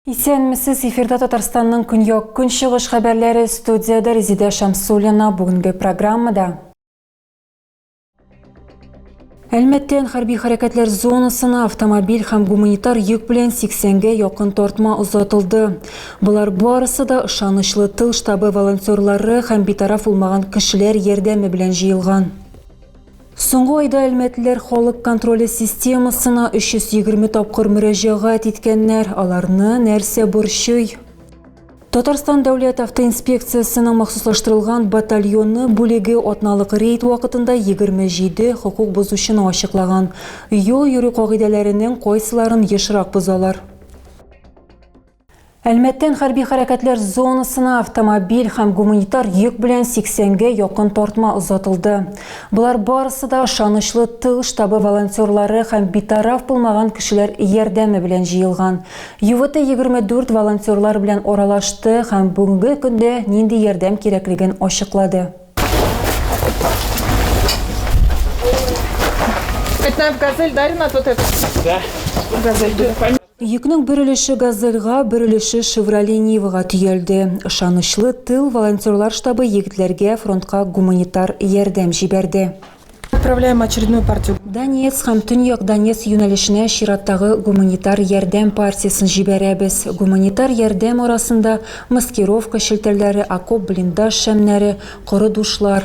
Исәнмесез, эфирда Татарстанның көньяк көнчыгыш хәбәрләре студияда Резидә Шамсулина бүгенге программада. Әлмәттән хәрби хәрәкәтләр зонасына автомобиль һәм гуманитар йөк белән 80-гә якын тартма озатылды. Болар барысы да ышанычлы тыл штабы волонтерлары һәм битараф булмаган кешеләр ярдәме белән җыелган. Соңгы айда әлмәтлеләр халык контроле системасына 320 тапкыр мөрәҗәгать иткәннәр. Аларны нәрсә борчый? Татарстан дәүләт автоинспекциясенең махсуслаштырылган батальоны бүлеге атналык рейд вакытында 27 хокук бозучыны ачыклаган. Юл йөрү кагыйдәләренең кайсыларын ешрак бозалар? Әлмәттән хәрби хәрәкәтләр зонасына автомобиль һәм гуманитар йөк белән 80-гә якын тартма озатылды. Болар барысы да ышанычлы тыл штабы волонтерлары һәм битараф булмаган кешеләр ярдәме белән җыелган. Ювете 24 волонтерлар белән аралашты һәм бүгенге көндә нинди ярдәм кирәклеген ачыклады. Йөкнең бер өлеше Газельга, бер өлеше Шевроле Нивага төялде. Ышанычлы тыл волонтерлар штабы егетләргә фронтка гуманитар ярдәм җибәрде. Отправляем очередную партию. Донецк һәм Төньяк Донецк юнәлешенә чираттагы гуманитар ярдәм партиясен җибәрәбез. Гуманитар ярдәм арасында, маскировка челтәрләре, окоп-блиндаж шәмнәре, коры душлар.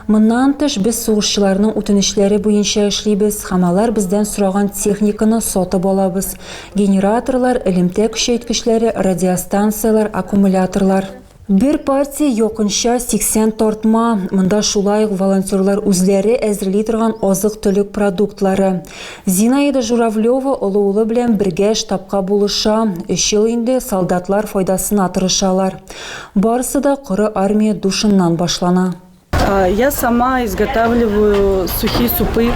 Моннан тыш, без сугышчыларның үтенечләре буенча эшлибез һәм алар бездән сораган техниканы сатып алабыз, генераторлар, элемтә көчәйткечләре, радиостанцияләр, аккумуляторлар. Бер партия якынча 80 тартма. Монда шулай ук волонтерлар үзләре әзерли торган азык-төлек продуктлары. Зинаида Журавлева олы улы белән бергә штабка булыша. Өч ел инде солдатлар файдасына тырышалар. Барысы да коры армия душыннан башлана. Я сама изготавливаю сухие супы.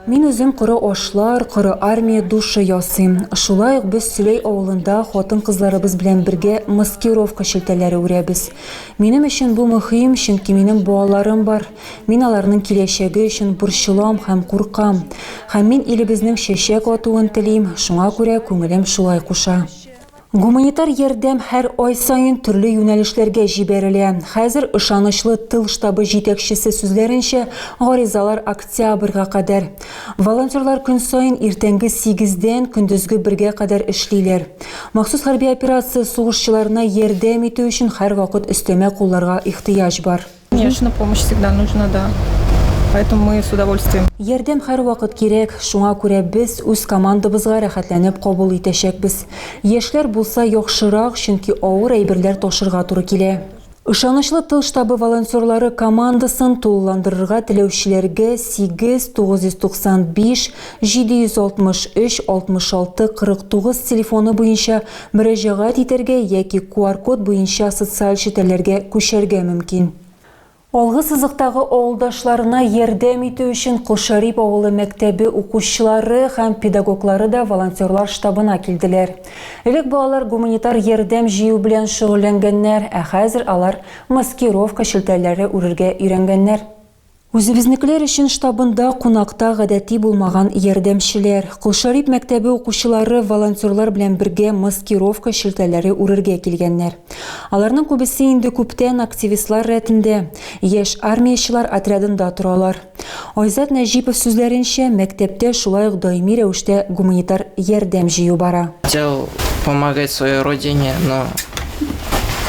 Мин үзем коры ашлар, коры армия душы ясыйм. Шулай ук без Сөләй авылында хатын-кызларыбыз белән бергә маскировка шелтәләре үрәбез. Минем өчен бу мөһим, чөнки минем балаларым бар. Мин аларның киләчәге өчен борчылам һәм куркам. Һәм мин илебезнең чәчәк атуын телим, шуңа күрә күңелем шулай куша. Гуманитар ярдәм һәр ай саен төрле юнәлешләргә җибәрелә. Хәзер, ышанычлы тыл штабы җитәкчесе сүзләренчә, гаризалар октябрьгә кадәр. Волонтерлар көн саен иртәнге сигездән көндезге бергә кадәр эшлиләр. Махсус хәрби операция сугышчыларына ярдәм итү өчен һәрвакыт өстәмә кулларга ихтыяҗ бар. Конечно, помощь всегда нужна, да. Поэтому мы с удовольствием. Ярдәм һәрвакыт кирәк, шуңа күрә без үз командабызга рәхәтләнеп кабул итәчәкбез. Яшьләр булса яхшырак, чөнки авыр әйберләр ташырга туры килә. Ышанычлы тыл штабы волонтерлары командасын тулыландырырга теләүчеләргә 8 995 763 66 49 телефоны буенча Мөрәҗәгать итәргә яки QR-код буенча социаль челтәрләргә күчәргә мөмкин. Алгы сызыктагы авылдашларына ярдәм итү өчен Кол Шәрип авылы мәктәбе укучылары һәм педагоглары да волонтерлар штабына килделәр. Элек балалар гуманитар ярдәм җыю белән шөгыльләнгәннәр, ә хәзер алар маскировка челтәрләре үрергә өйрәнгәннәр. Үзебезнекеләр өчен штабында кунакта гадәти булмаган ярдәмчеләр. Кол Шарип мәктәбе укучылары волонтерлар белән бергә маскировка челтәрләре үрергә килгәннәр. Аларның күбесе инде күптән активистлар рәтендә, яшь армиячылар отрядында торалар. Айзат Нәҗипов сүзләренчә, мәктәптә шулай ук даими рәвештә гуманитар ярдәм җыю бара. Хотел помогать своей родине, но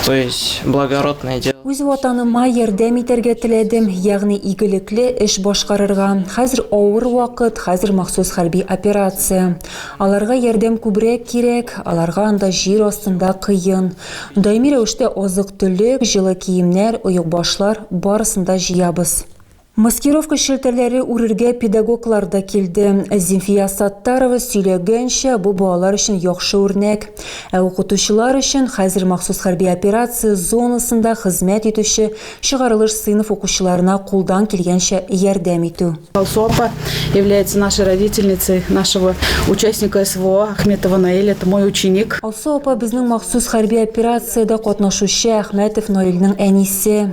То есть благородное дело. Үз ватаныма ярдәм итәргә теләдем, ягъни игелекле эш башкарырга. Хәзер авыр вакыт, хәзер махсус хәрби операция. Аларга ярдәм күбрәк кирәк, аларга анда җир астында кыен. Даими рәвештә азык-төлек, җылы киемнәр, оекбашлар, барысын да җыябыз. Маскировка челтәрләре үрергә педагоглар да килде. Зимфия Саттарова сөйләгәнчә, бу балалар өчен яхшы үрнәк. Ә укытучылар өчен хәзер махсус хәрби операция зонасында хезмәт итүче чыгарылыш сыйныф укучыларына кулдан килгәнчә ярдәм итү. Алсу апа является нашей родительницей нашего участника СВО Ахметова Наиль, это мой ученик. Алсу апа безнең махсус хәрби операциядә катнашучы Әхмәтов Наилнең әнисе.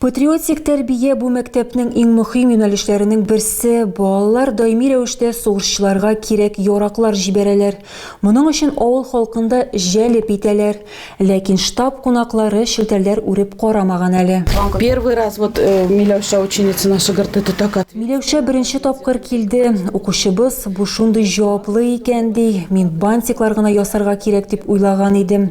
Патриотик тәрбия бу мәктәпнең иң мөхим юнәлешләренең берсе. Балалар даими рәвештә сугышчыларга кирәк яраклар җибәрәләр. Моның өчен авыл халкын да җәлеп итәләр. Ләкин штаб кунаклары челтәрләр үреп карамаган әле. Первый раз вот Миләүшә ученица наша горды ты так ответила. Миләүшә беренче тапкыр килде. Укучыбыз, бу шундый җаваплы икән, ди. Мин бантиклар гына ясарга кирәк дип уйлаган идем.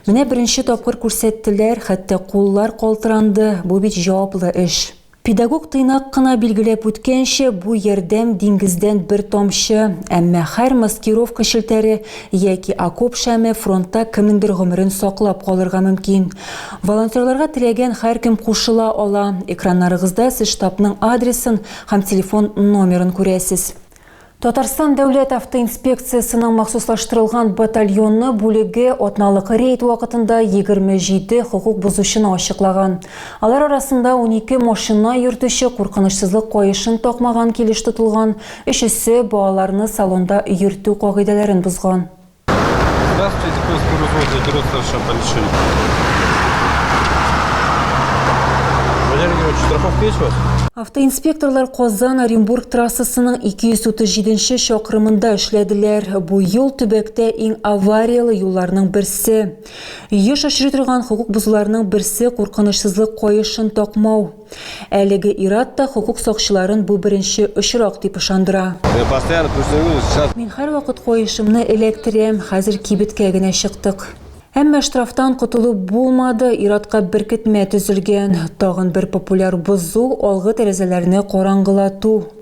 Менә беренче тапкыр күрсәттеләр, хәтта куллар калтыранды, бу бит җаваплы эш. Педагог тыйнак кына билгеләп үткәнчә, бу ярдәм диңгездән бер тамчы, әмма һәр маскировка челтәре яки окоп шәме фронтта кемнеңдер гомерен саклап калырга мөмкин. Волонтерларга теләгән һәркем кушыла ала. Экраннарыгызда сез штабның адресын һәм телефон номерын күрәсез. Татарстан дәүләт автоинспекциясенең махсуслаштырылган батальоны бүлеге атналык рейд вакытында 27 хокук бозучыны ачыклаган. Алар арасында 12 машина йөртүче куркынычсызлык каешын такмаган килеш тотылган, өчесе балаларны салонда йөртү кагыйдәләрен бозган. Здравствуйте, Курс Курузоза, Берутов Шапальшин. Валерий Георгиевич, страховка есть у вас? Автоинспекторлар Казан Оренбург трассасының 237 чакрымында эшләделәр. Бу юл төбәктә иң аварияле юлларның берсе. Еш очрый торган хокук бозуларның берсе куркынычсызлык каешын такмау. Әлеге ир-ат та хокук сакчыларын бу беренче очрак дип ышандыра. Мин һәрвакыт каешымны эләктерәм, хәзер кибеткә генә чыктык. Әмма штрафтан котылып булмады, ир-атка беркетмә төзелгән. Тагын бер популяр бозу, алгы тәрәзәләрне караңгылату.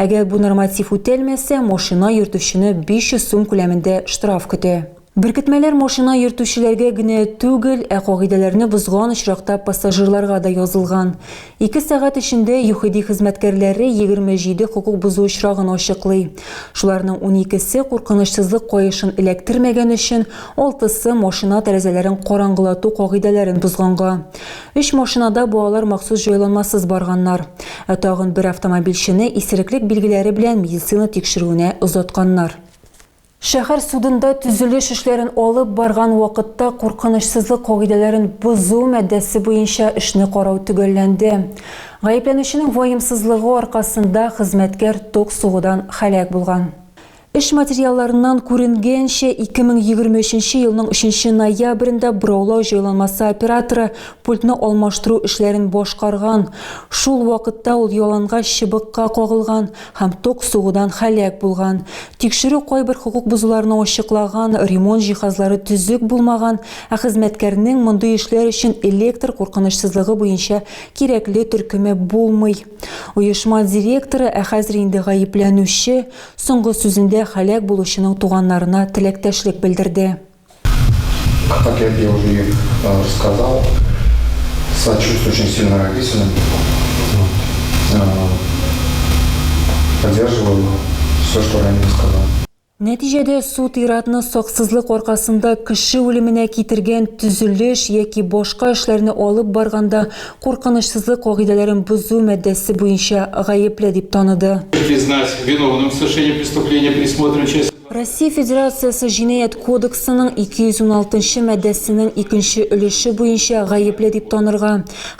Әгәр бу норматив үтәлмәсә, машина йөртүчене 500 сум күләмендә штраф көтә. Беркетмәләр машина йөртүчеләргә генә түгел, ә кагыйдәләрне бозган очракта пассажирларга да язылган. Ике сәгать эчендә ЮХИДИ хезмәткәрләре 27 хокук бозу очрагын ачыклый. Шуларның уникесе куркынычсызлык каешын эләктермәгән өчен, алтысы, машина тәрәзәләрен караңгылату кагыйдәләрен бозганга. Өч машинада бу алар махсус җайланмасыз барганнар. Ә тагын бер автомобильчене исереклек билгеләре белән медицина тикшерүенә озатканнар. Шәһәр судында төзелеш эшләрен алып барган вакытта куркынычсызлык кагыйдәләрен бозу маддәсе буенча эшне карау төгәлләнде. Гаепләнүченең ваемсызлыгы аркасында хезмәткәр ток сугудан һәлак булган. Эш материалларыннан күренгәнчә, 2023 елның 3 ноябрендә бораулау җайланмасы операторы пультны алмаштыру эшләрен башкарган. Шул вакытта ул ялангач чыбыкка кагылган һәм ток сугудан һәлак булган. Тикшерү кайбер хокук бозуларны ачыклаган, ремонт җиһазлары төзек булмаган, ә хезмәткәрнең мондый эшләр өчен электр куркынычсызлыгы буенча кирәкле төркеме булмый. Оешма директоры, ә хәзер инде гаепләнүче, Соңгы сүзендә һәлак булучының туганнарына теләктәшлек белдерде. Как я тебе уже сказал, сочувствую очень сильно родителям, поддерживаю все, что Рамиль сказал. Нәтиҗәдә суд ир-атны саксызлык аркасында кеше үлеменә китергән төзелеш яки башка эшләрне алып барганда куркынычсызлык кагыйдәләрен бозу маддәсе буенча гаепле дип таныды. Признать виновным в совершении преступления, предусмотренного частью Россия Федерациясе Җинаять кодексының 216 нчы маддәсенең икенче өлеше буенча гаепле дип танырга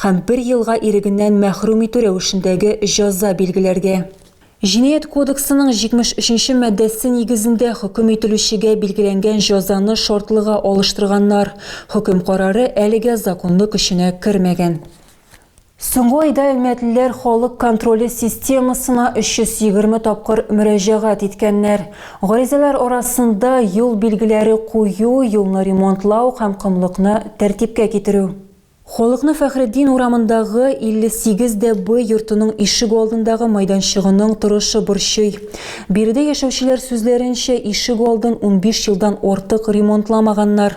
һәм бер елга ирегеннән мәхрүм итү рәвешендәге җәза билгеләргә. Җинаять кодексының 73 нче маддәсе нигезендә хөкем ителүчегә билгеләнгән җәзаны шартлыга алыштырганнар. Хөкем карары әлегә законлы көченә кермәгән. Соңгы айда әлмәтлеләр халык контроле системасына 320 тапкыр мөрәҗәгать иткәннәр. Гаризалар арасында, юл билгеләре кую, юлны ремонтлау һәм комлыкны тәртипкә китерү. Халыкны Фәхретдин урамындагы 58 дә Б йортының ишек алдындагы майданчыгының торышы борчый. Биредә яшәүчеләр сүзләренчә, ишек алдын унбиш елдан артык ремонтламаганнар.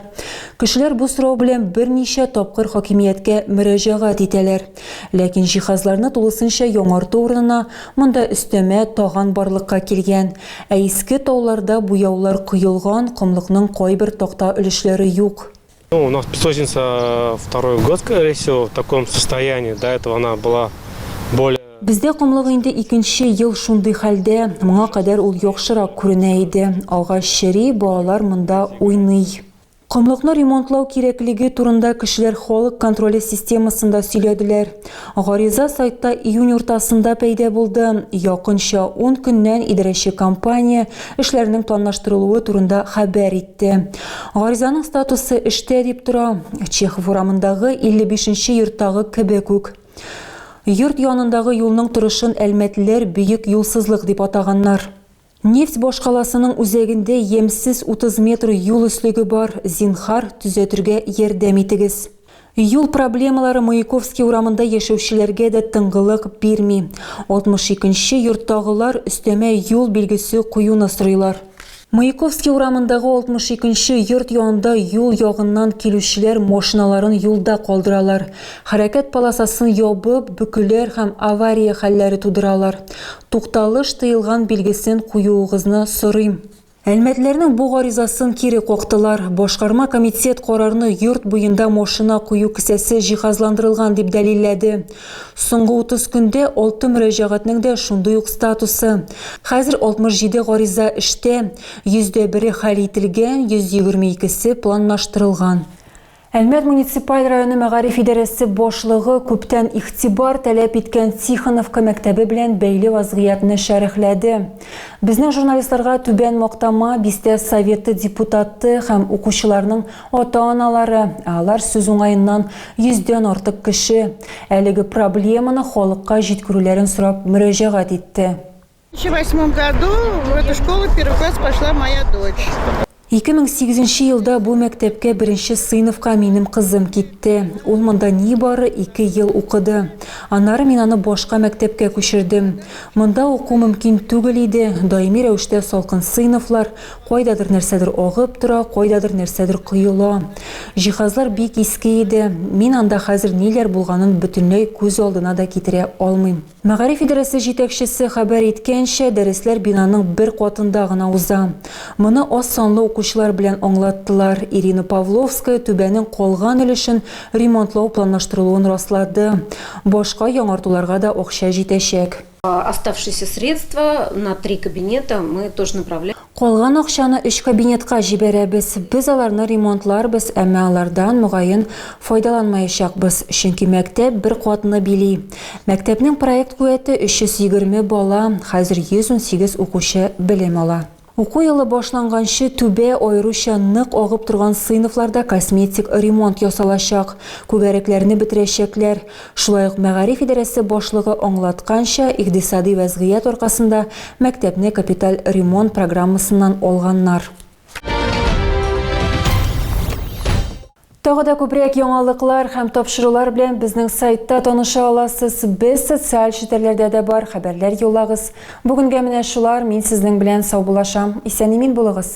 Кешеләр бу сорау белән берничә тапкыр хакимияткә мөрәҗәгать итәләр. Ләкин җиһазларны тулысынча яңарту урынына монда өстәмә таган барлыкка килгән. Ә иске тауларда буяулар коелган, комлыкның кайбер такта өлешләре юк. У нас песочница второй год, скорее всего, в таком состоянии. До этого она была более Бездә комлык инде икенче ел шундый хәлдә, моңа кадәр ул яхшырак күренә иде. Агач чери, балалар монда уйный. Комлыкны ремонтлау кирәклеге турында кешеләр халык контроле системасында сөйләделәр. Гариза сайтта июнь уртасында пәйдә булды. Якынча 10 көннән идарәче компания эшләрнең планлаштырылуы турында хәбәр итте. әйтте. Гаризаның статусы эштә дип тора. Чехов урамындагы 55 нче йорттагы кебек үк. Йорт янындагы юлның торышын әлмәтлеләр бөек юлсызлык дип атаганнар. Нефть башкаласының үзәгендә ямьсез 30 метр юл өслеге бар, зинһар, төзәтергә ярдәм итегез. Юл проблемалары Маяковский урамында яшәүчеләргә дә тынгылык бирми. 62 нче йорттагылар өстәмә юл билгесе куюны сорыйлар. Маяковский урамындагы 62 нче йорт янында юл ягыннан килүчеләр машиналарын юлда калдыралар, хәрәкәт полосасын ябып, бөкеләр һәм авария хәлләре тудыралар. Тукталыш тыелган билгесен куюыгызны сорыйм. Әлмәтләрнең бу гаризасын кире кактылар. Башкарма комитет карарны йорт буенда машина кую кесәсе җиһазландырылган дип дәлилләде. Соңгы 30 көндә алты мөрәҗәгатьнең дә шундый ук статусы. Хәзер 67 гариза эштә, йөз дә бере хәл ителгән, 122 се планлаштырылган. Әлмәт муниципаль районы мәгариф идарәсе башлыгы күптән игътибар таләп иткән Тихоновка мәктәбе белән бәйле вазгыятьне шәрехләде. Безнең журналистларга Түбән Мактама бистә Советы депутаты һәм укучыларның ата-аналары, ә алар сүз уңаеннан йөздән артык кеше, әлеге проблеманы халыкка җиткерүләрен сорап мөрәҗәгать итте. 2008 нче елда бу мәктәпкә беренче сыйныфка минем кызым китте. Ул монда нибары ике ел укыды. Аннары мин аны башка мәктәпкә күчердем. Монда уку мөмкин түгел иде, даими рәвештә салкын сыйныфлар, кайдадыр нәрсәдер агып тора, кайдадыр нәрсәдер коела. Җиһазлар бик иске иде. Мин анда хәзер ниләр булганын бөтенләй күз алдына да китерә алмыйм. Мәгариф идарәсе җитәкчесе хәбәр иткәнчә, дәресләр бинаның бер катында гына уза. Моны аз санлы укучылар белән аңлаттылар. Ирина Павловская түбәнең калган өлешен ремонтлау планлаштырылуын раслады. Башка яңартуларга да акча җитәчәк. Калган акчаны өч кабинетка җибәрәбез. Без аларны ремонтларбыз, әмма алардан, мөгаен, файдаланмаячакбыз, чөнки мәктәп бер катны били. Мәктәпнең проект куәте 320 бала, хәзер 118 укучы белем ала. Уку елы башланганчы түбә аеруча нык агып торган сыйныфларда косметик ремонт ясалачак, күгәрәкләрне бетерәчәкләр, Шулай ук мәгариф идарәсе башлыгы аңлатканча, икъдисади вәзгыять аркасында мәктәпне капиталь ремонт программасыннан алганнар. Тагы да күбрәк яңалыклар һәм тапшырулар белән безнең сайтта таныша аласыз. Без социаль челтәрләрдә дә бар, хәбәрләр юллагыз. Бүгенгә менә шулар, мин сезнең белән саубулашам. Исән-имин булыгыз!